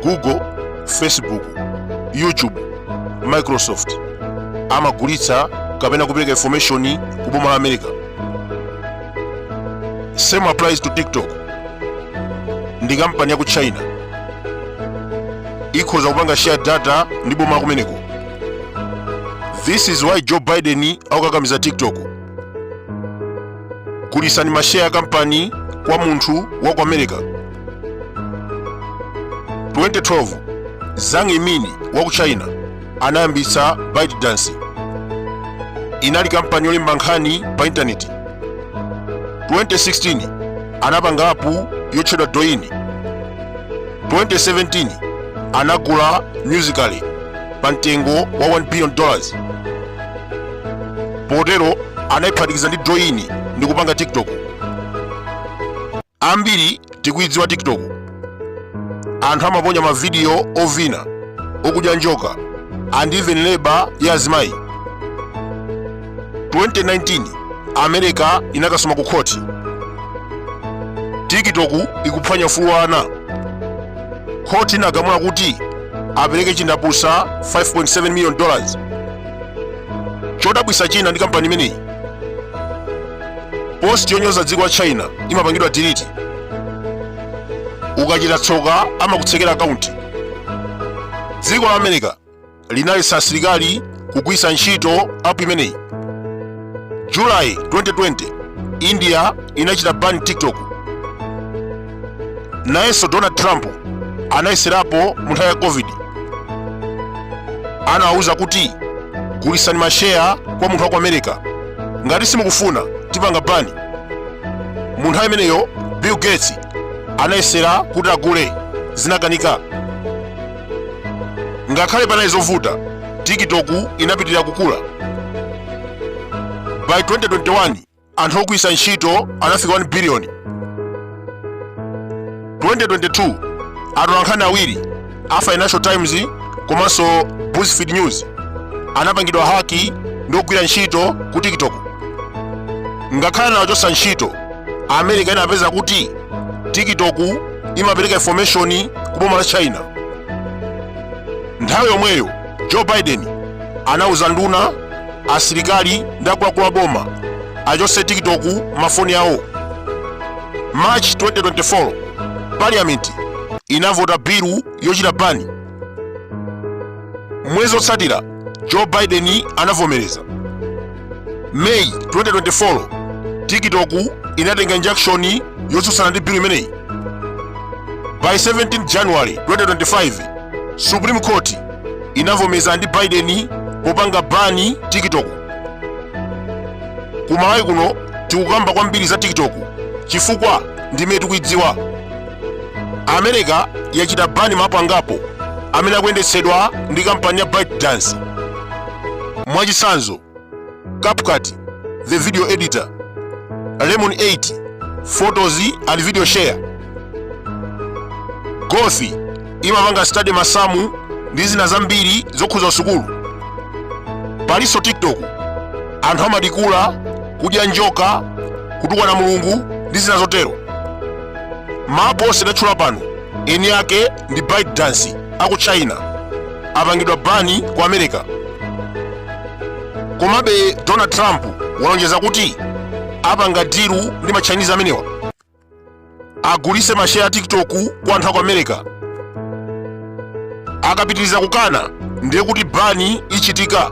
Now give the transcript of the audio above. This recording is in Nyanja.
google facebook youtube microsoft amagulitsa kapena kupereka information ku boma la america same applies to tiktok ndi kampani ya ku china ikhoza kupanga share data ndi boma la kumeneko this is why joe biden akukakamiza tiktok gulisani masheya ya kampani kwa munthu wa ku america 2012 zhang yiming wa ku china anayambitsa ByteDance inali kampani yolemba nkhani pa intaneti 2016 anapanga apu yotchedwa douyin 2017 anagula musical.ly pa mtengo wa 1 billion dollars potero anayiphatikiza ndi douyin ndi kupanga tiktok ambiri tikuyidziwa tiktok anthu amaponya mavidiyo ovina okudya njoka and even labor ya azimayi 2019 america inakasuma ku khoti tiktok ikuphwanya ufulu wa ana khoti inagamula kuti apereke chindapusa 5.7 million dollars chodabwisa china ndi kampani imeneyi post yonyoza dziko la china imapangidwa delete ukachita tsoka amakutsekera akaunti dziko la america linaletsa asilikali kugwitsa ntchito app imeneyi july 2020 india inachita ban tiktok nayenso donald trump anayeserapo mu nthawi ya covid anawawuza kuti gulisani masheya kwa munthu wa ku america ngati simukufuna tipanga bani mu nthawi imeneyo bill gates anayesera kuti agule zinakanika ngakhale panali zovuta tiktok inapitirira kukula by 2021 anthu ogwiritsa ntchito anafika 1 biliyoni 2022 atolankhani awiri a financial times komanso buzzfeed news anapangidwa haki ndi ogwira ntchito ku tiktok ngakhale anawachotsa ntchito america inapeza kuti tiktok imapereka information ku boma la china nthawi yomweyo joe biden anauza nduna asilikali ndi akuluakulu a boma achotse tiktok mafoni awo march 2024 parliament inavota bilu yochita bani mwezi otsatira joe biden anavomereza May 2024 TikTok inatenga injunction yotsutsana ndi bill imeneyi. Pa 17 January 2025 Supreme Court inavomeza ndi Biden popanga bani TikTok. Ku Malawi kuno tikukamba kwambiri za TikTok chifukwa ndimene tikuidziwa. America yachita bani ma app angapo amene akuyendetsedwa ndi kampani ya ByteDance. Mwachitsanzo, CapCut, the video editor, Lemon 8, photos and video share. Gauth imapanga study masamu ndi zina zambiri zokhuza sukulu. Palinso TikTok, anthu amadikula, kudya njoka, kutukwana Mulungu ndi zina zotero. Ma app onse ndatchula pano eni ake ndi bytedance aku china apangidwa bani ku america komabe donald trump walonjeza kuti apanga dilu ndi ma chinese amenewa agulise masheya a tiktok kwa anthu aku america akapitiriza kukana ndiye kuti bani ichitika